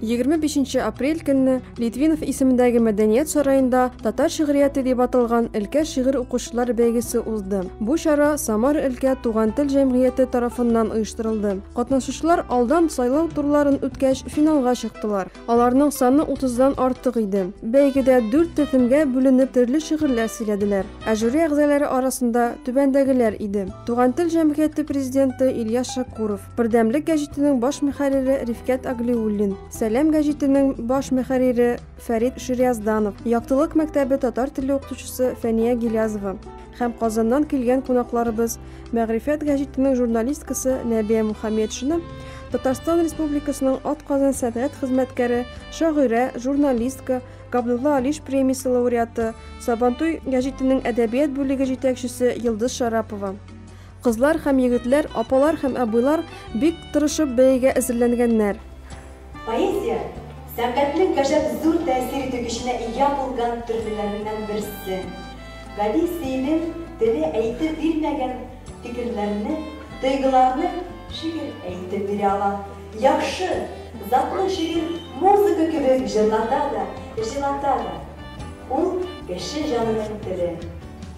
Егерме бишенче апрель көнне Литвинов исемендәге мәдәният сараенда татар шигърияте дип аталган өлкә шигырь укучылар бәйгесе узды. Бу чара Самар өлкә туган тел җәмгыяте тарафыннан оештырылды. Катнашучылар алдан сайлау турларын үткәч финалга чыктылар. Аларның саны утыздан артык иде. Бәйгедә дүрт төркемгә бүленеп төрле шигырьләр сөйләделәр. Ә жюри әгъзалары арасында түбәндәгеләр иде. Туган тел җәмгыяте президенты Ильяс Шакуров, Бердәмлек гәҗитенең баш мөхәррире Рифкәт Аглиуллин, Сәлам гәҗитенең баш мөхәррире Фәрит Шириязданов, Яктылык мәктәбе татар теле укытучысы Фәния Гилязова, һәм Казаннан килгән кунакларыбыз Мәгърифәт гәҗитенең журналисткасы Нәбия Мухаммедшина, Татарстан Республикасының атказан сәнгать хезмәткәре, шагыйрә, журналистка, Габдулла Алиш премиясе лауреаты, Сабантуй гәҗитенең әдәбият бүлеге җитәкчесе Йылдыз Шарапова. Кызлар һәм егетләр, апалар һәм абыйлар бик тырышып бәягә әзерләнгәннәр. Поэзия, сәнгатьнең гаҗәп зур тәэсир итү көченә ия булган төрлеләреннән берсе. Гади сөйлем теле әйтеп бирмәгән фикерләрне, тойгыларны шигырь әйтеп бирә ала. Яхшы, затлы шигырь музыка кебек җырлата да, җылата да. Ул, кеше җанының теле.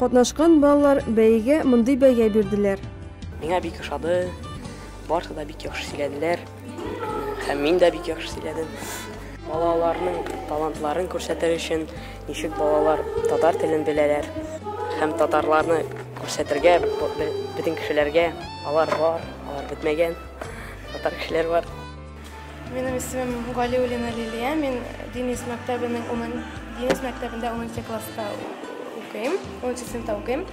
Катнашкан балалар бәйгә мондый бәя бирделәр. Миңа бик ошады. Барсы да бик яхшы сөйләделәр. Һәм мин дә бик яхшы сөйләдем. Балаларның талантларын күрсәтер өчен ничек балалар татар телен беләләр һәм татарларны күрсәтергә бөтен кешеләргә алар бар, алар бетмәгән татар кешеләр бар. Минем исемем Галиулина Лилия. Мин Денис мәктәбенең 10 Денис мәктәбендә 10 класста укыйм, 10 сыйныфта укыйм.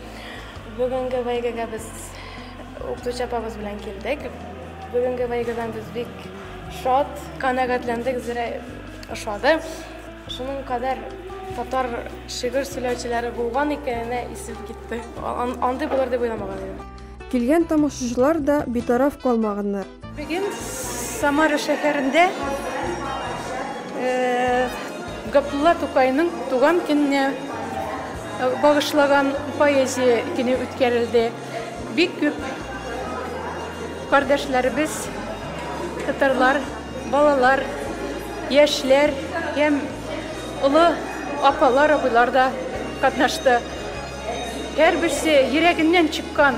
Бүгенге бәйгегә без укытучы апабыз белән килдек. Бүгенге бәйгедән без бик шат, канәгатьләндек, зирә ошады. Шуның кадәр татар шигырь сөйләүчеләре булган икәненә исеп китте. Андый булыр дип уйламаган идем. Килгән тамашачылар да битараф калмаганнар. Бүген Самара шәһәрендә Габдулла Тукайның туган көненә багышлаган поэзия көне үткәрелде. Бик күп кардәшләребез, татарлар, балалар, яшьләр һәм олы апалар, абыйлар да катнашты. Һәрберсе йөрәгеннән чыккан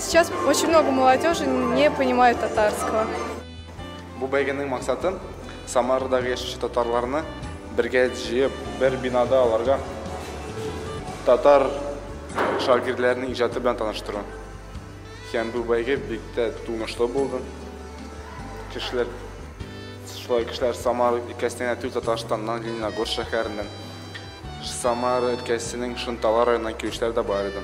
Сейчас очень много молодежи не понимает татарского. Бу бәйгенең максаты Самарадагы яшәүче татарларны бергә җыеп, бер бинада аларга татар шагыйрьләренең иҗаты белән таныштыру. Һәм бу бәйге бик тә тунышлы булды. Кешеләр шулай кешеләр Самар өлкәсеннән түгел Татарстаннан, Лениногорск шәһәреннән, Самар өлкәсенең Шунтала районыннан килүчеләр дә бар иде.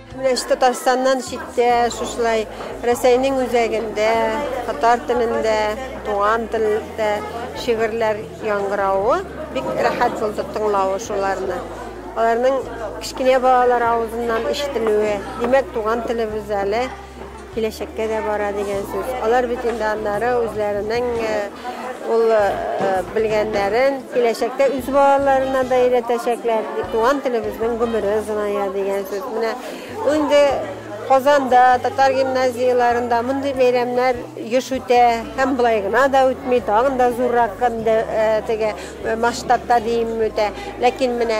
Менә ич Татарстаннан читтә, шушылай Рәсәйнең үзәгендә, татар телендә, туган телдә шигырьләр яңгыравы бик рәхәт булды тыңлавы шуларны. Аларның кечкенә балалар авызыннан ишетелүе, димәк, туган телебез әле. Киләчәккә дә бара дигән сүз. Алар бит инде аннары үзләренең ул белгәннәрен киләчәктә үз балаларына да өйрәтәчәкләр. Туган телебезнең гомере озыная дигән сүз. Менә ул инде Казанда, татар гимназияләрендә мондый бәйрәмнәр еш үтә һәм болай гына да үтми, тагын да зуррак масштабта диим үтә. Ләкин менә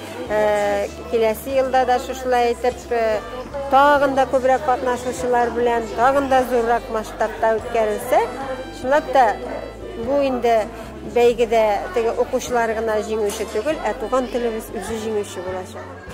Киләсе елда да шушылай итеп тагын да күбрәк катнашучылар белән тагын да зуррак масштабта үткәрелсә, чынлап та бу инде бәйгедә теге укучылар гына җиңүче түгел, ә туган телебез үзе җиңүче булачак.